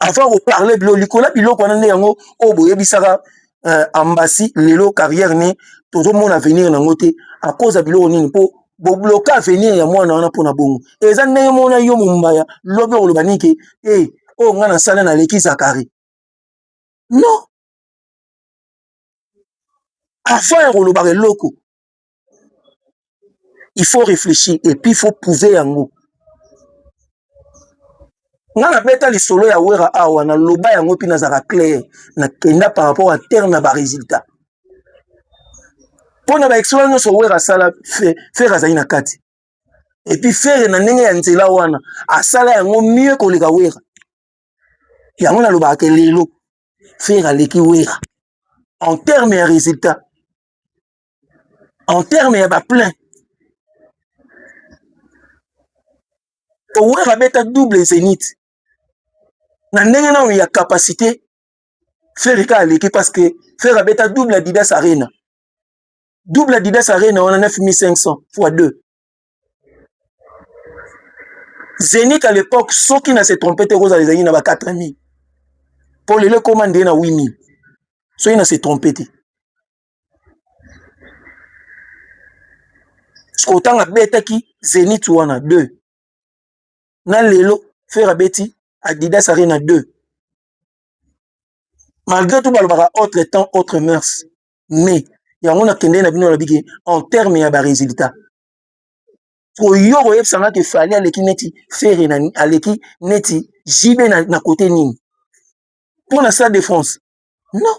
avant ko parler bilo likola biloko wana nde yango oyo boyebisaka euh, ambassy lelo carrière ne tozomona avenir nango te à cause ya biloko nini mpo bobloke avenir ya mwana wana mpona bongo eza ndenge mona yo mombaya lobi okoloba nini ke e oyo ngai nasala naleki zakari non avant ya kolobaka eloko il faut reflechir et puis il faut prouver yango nga nabeta lisolo ya wera awa naloba yango mpe nazalaka claire nakenda par rapport ya terre na baresultat mpo na baexploit nyonso wera asala fere azali na kati epuis fere na ndenge ya nzela wana asala yango mieux koleka wera yango nalobaka ke lelo fere aleki wera en terme ya résultat en terme ya ba plein owera abeta double zenith na ndenge nano ya capacité ferre ka aleki parce que ferre abeta double adidas arena double adidas arena wana 9500 fois 2 zenith à l'époque soki na se trompe te ekozala ezalaki na ba 4000 mpo lelo ekoma ndenge na 8000 soki na se trompe te sikoyo ntango abetaki zenit wana 2 na lelo fere abeti adidas arena 2 malgré tout balobaka autre temps autre mœurs mais yango nakendei na bino na biki en terme ya baresultat koyo koyebisa nga ke fali aleki neti fere na aleki neti jb na, na kote nini mpo na stade de france non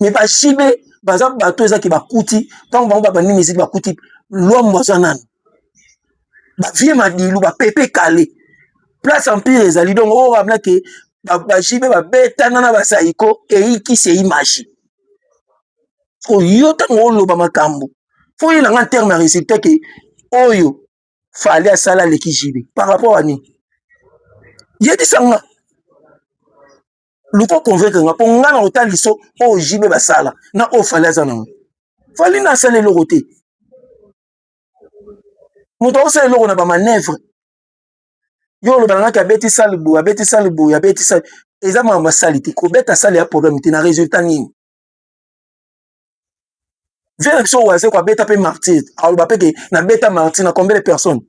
mais ba JB baza bato eza ki bakuti ntango bango babandi miziki bakuti lwambo aza nani ba vieux madilu ba pepe kale place empire ezali donc oyo abla ke ba JB babetana na basaiko eyikisi eyi magie oyo ntango oloba makambo fo oyela nga terme ya résultat ke oyo fali asala aleki JB par rapport à nini yebisa nga luka convaincre nga mpo nga na kotala liso oyo jibe basala na oyo fali aza nango fali na asala eloko te moto akosala eloko na bamanevre yo olobana ngaki abeti sale boye abeti sale boye abeti sale eza makambo asali te kobeta sale ya problème te na résultat nini vie na biso oyo azeko abeta mpe martyr aloba mpe ke nabeta martyr na combien de personnes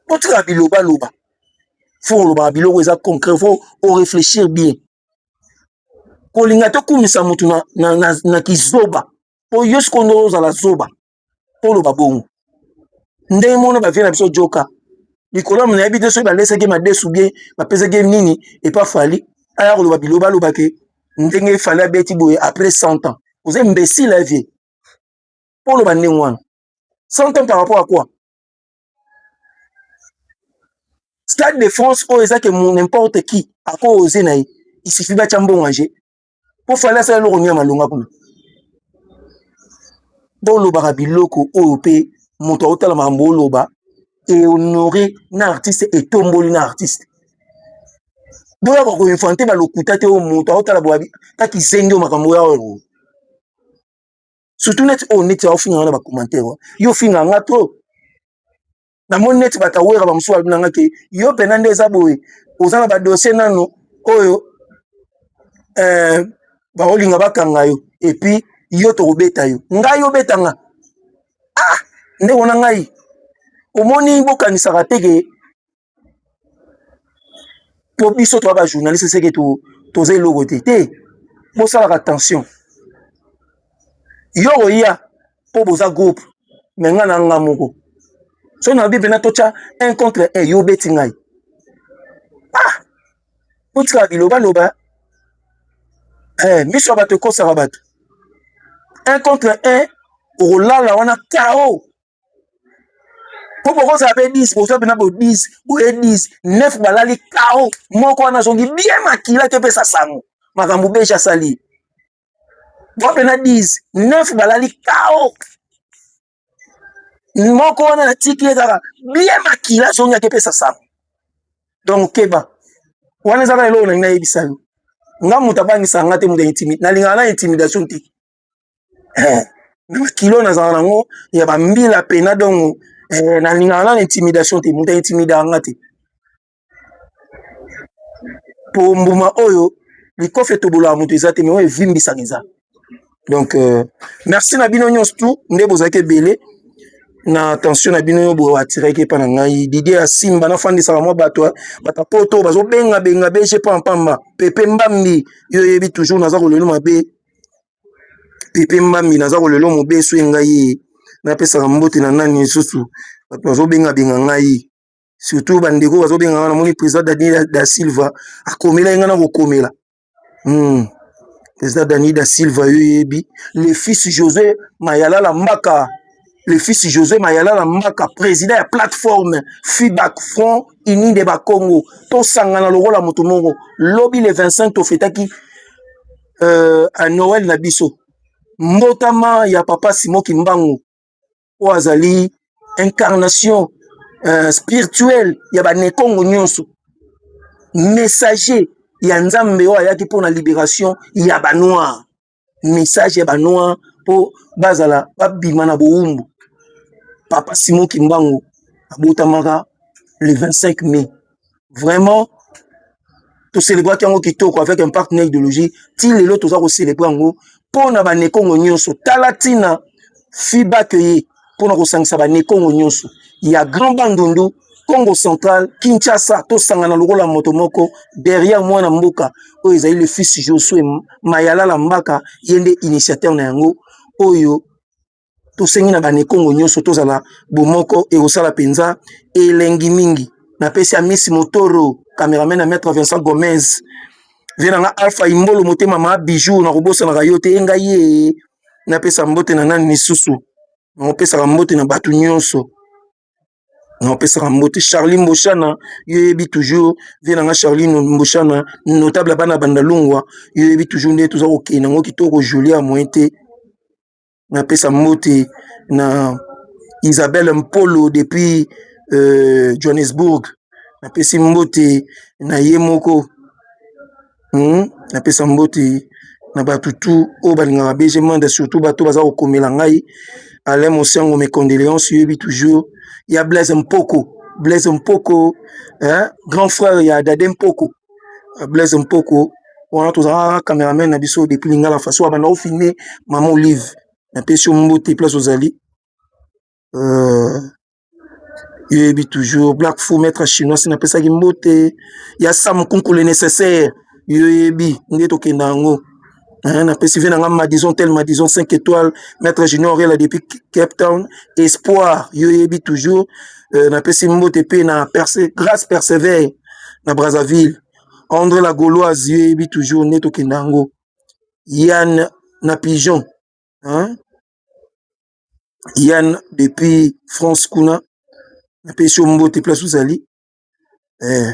botika bilobaloba fo olobaka biloko eza concret fo oreflechir bien kolinga tokumisa motu na, na, na, na kizoba mpo yo sikoyo nde ozala zoba mpo oloba bongo ndenge mona bavie na biso joka likolo ya monayebi te soki balesaki madesu bien bapesaki nini epa fali aya koloba biloba alobake ndenge fali abeti boye après 100 ans oza imbesile vie mpo oloba ndenge wana 100 tonnes par rapport à quoi stade de france oyo eza ke n'importe qui ako ose na ye isifi batya mbongo age mpo fali asala eloko nini ya malonga kuna bolobaka biloko oyo mpe moto aotala makambo oloba ehonore na artiste etomboli na artiste boyaka koinfante balokuta te oyo moto aotala boyabi kaki zenge oyo makambo oyo aoyo surtout neti oyo oh, neti aofinga nga na bacommentaire oh. yo ofinga nga trop namoni neti bato awera bamosusu balobi na nga ke yo mpena nde eza boye oza na badossier nano oyo eh, baolinga bakanga yo epuis yo tokobeta yo ngai obeta nga ah ndeko na ngai omoni bokanisaka te ke mpo biso toa bajournaliste seke toza eloko te te bosalaka tension yo oya mpo boza groupe me ngai na nga moko so nabi mpena totya un contre un yo obeti ngai ah botikaka bilobaloba eh, miso ya bato ekosaka bato un contre un okolala wana kao po bokozala mpe 10 bozwa mpena bo 10 boye 10 9 balali kao moko wana azongi bien makila te epesa sango makambo beji asali bwa mpena 10 9 balali kao moko wana natiki ye kaka bien makila azongi ake epesa sango donc keba wana ezaka eloko nalingi nayebisa yo nga moto abangisa nga te moto intimide nalingaka na intimidation te eh, na bakilo nazala nango ya bambila pena dongo eh, nalingaka nana intimidation te moto aintimidaka nga te po mbuma oyo likofi etobolaka moto eza te me oyo evimbisaka eza donc euh, merci na bino nyonso tu nde bozalaki ebele na attention na bino yo boye atiraki epai na ngai didie ya simba nafandisaka mwa bato bata poto bazobengabenga bg pampamba pepe mbambi yo oyebi toujours naza kolelo mabe Pepe Mbambi naza ko lelo mobesu e ngai e, napesaka mbote na nani lisusu bato bazo benga benga ngai surtout ba ndeko bazo benga ngai namoni president Daniel da Silva akomelaki ngai na kokomela hmm. president Daniel da Silva yo yebi le fils José Mayalala Mbaka le fils José Mayalala Mbaka président ya plateforme FIBAC Front Uni de Bakongo tosangana lokola moto moko lobi le 25 tofetaki euh, à Noël na biso mbotama ya papa Simon Kimbangu oyo azali incarnation euh, spirituelle ya banekongo nyonso messager ya nzambe oyo ayaki mpo na liberation ya banoir message ya banoir mpo bazala babima na bowumbu papa Simon Kimbangu abotamaka le 25 mai vraiment toselebraki yango kitoko avec impact na idéologie ti lelo toza koselebre yango mpo na banekongo nyonso tala ntina fiba keye mpo na kosangisa banekongo nyonso ya grand bandundu congo central kinshasa tosangana lokola moto moko derrière mwana mboka oyo ezali le fils josue mayalala mbaka ye nde initiateur na yango oyo tosengi na banekongo nyonso tozala bomoko ekosala mpenza elengi mingi napesi amisi motoro cameraman ya maître vincent gomez vie na nga alpha imbolo motema ma bijou nakobosanaka yo te engai ye napesa mbote na nani lisusu nakopesaka mbote na bato nyonso naopesaka mbote charli mboshana yo yebi toujours vie na nga charli mboshana notable ya bana bandalungwa yo yebi toujours nde toza kokende yango kitoko julia moyen te na pesa mbote na Isabelle Mpolo depuis euh, Johannesburg na pesi mbote na ye moko hmm? na pesa mbote na bato tout oyo balingaka BG Manda surtout bato baza kokomela ngai Alain Mosiango mes condoléances yebi toujours ya Blaise Mpoko Blaise Mpoko hein? grand frère ya Dade Mpoko blaise mpoko wana tozalaka camerame na biso depuis lingala faso abanda ofilme mama olive na pesi yo mbote place ozali euh, yoyebi toujours black fou maître chinois si napesaki mbote ya sam kunkule nécessaire yoyebi nde tokenda yango Hein, na pesi vie na nga madison tel madison 5 étoiles maître junior rela depuis cape town espoir yo yebi toujours euh, na pesi mbote mpe na perse grâce persevere na brazzaville andre la gauloise yo yebi toujours nde tokenda yango yann na pigeon hein? yann depuis france kuna na pesi yo mbote place ozali eh.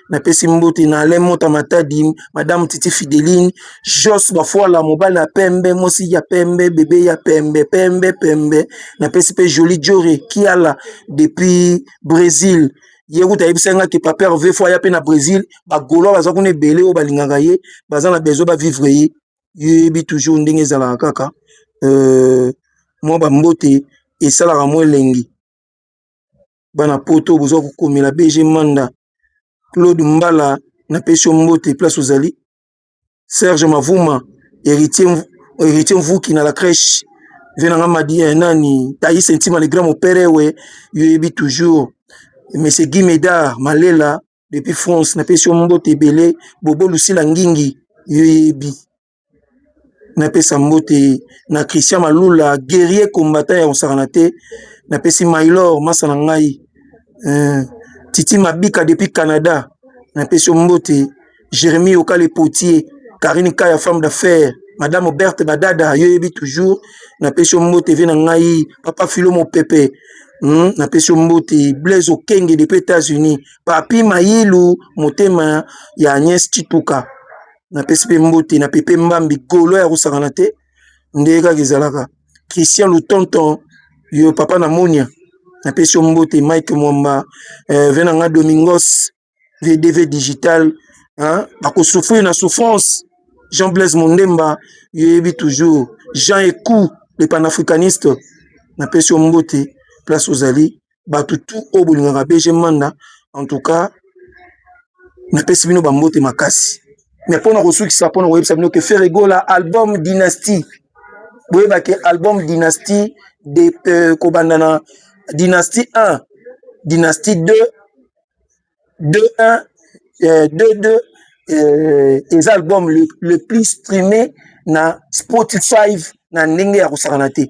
napesi mbote na alain mota matadi madame titi fideline jos bafuala mobali ya pembe mosi ya pembe bebe ya pembe pembe pembe napesi mpe joli jore kiala depuis brésil ye kuta ayebisaki nga ke papa herve fo aya mpe na brésil bagolois baza kuna ebele oyo balingaka ye baza na besoin bavivre ye yeyebi toujours ndenge ezalaka kaka euh, mwa bambote esalaka mwa elengi bana poto boza kokomela bg manda claude mbala na pesi yo mbote place ozali serge mavuma heritier mvuki na la crèche vie na nga madi eh, nani taise ntima le grand moperewe yo yebi toujours monsieur guy medard malela depuis france na pesi yo mbote ebele bobo lusila ngingi yo yebi napesa mbote na Christian Malula guerrier combattant ya kosakana te napesi Maylor masa na ngai eh, Titi Mabika depuis Canada napesi yo mbote Jérémie Okale Potier Karine Kaya femme d'affaires madame Berthe Badada yo yebi toujours napesi yo mbote vie na ngai papa Philo Mopepe Hmm, napesi yo mbote Blaise Okenge depuis États-Unis Papi Mayilu motema ya Agnès Chituka napesi mpe mbote na pepe mbambi golo ya kosangana te ndenge kaka ezalaka christian lutonton yo papa na monia napesi yo mbote mike mwamba eh, venanga domingos vdv digital hein? bakosouffrir na souffrance jean blaise mondemba yo yebi toujours jean ecou le panafricaniste napesi yo mbote place ozali batu tout oyo bolingaka BG Manda en tout cas na pesi bino ba mbote makasi mais pona ko sukisa pona ko yebisa bino que Ferre Gola album dynastie boyeba ke album dynastie de euh, kobanda na dynastie 1 dynastie 2 2 1 euh, 2 2 euh, eza album le, le plus streamé na Spotify na ndenge ya kosakana te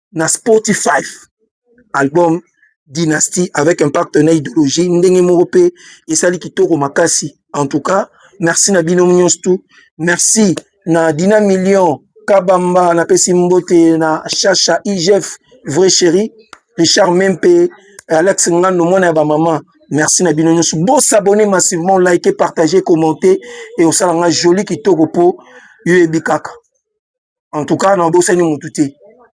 na Spotify album Dynastie avec un partenaire idéologie ndenge moko pe esali kitoko makasi en tout cas merci na bino nyonso tout merci na Dina Million Kabamba na pesi mbote na Chacha IGF vrai chéri Richard Mempe Alex Ngando mwana ya ba maman merci na bino nyonso bo s'abonner massivement liker partager commenter et osala nga joli kitoko po yo ebi kaka en tout cas nabosani mutu te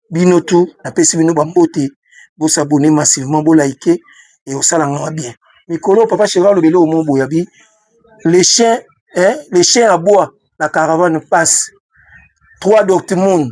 bino tout napesi bino bambote bosabone massivement bolaike ekosala ngai bien mikolo papa cheri aloba eloko moko boye abi le chien eh, le chien à bois la caravane passe trois dortmund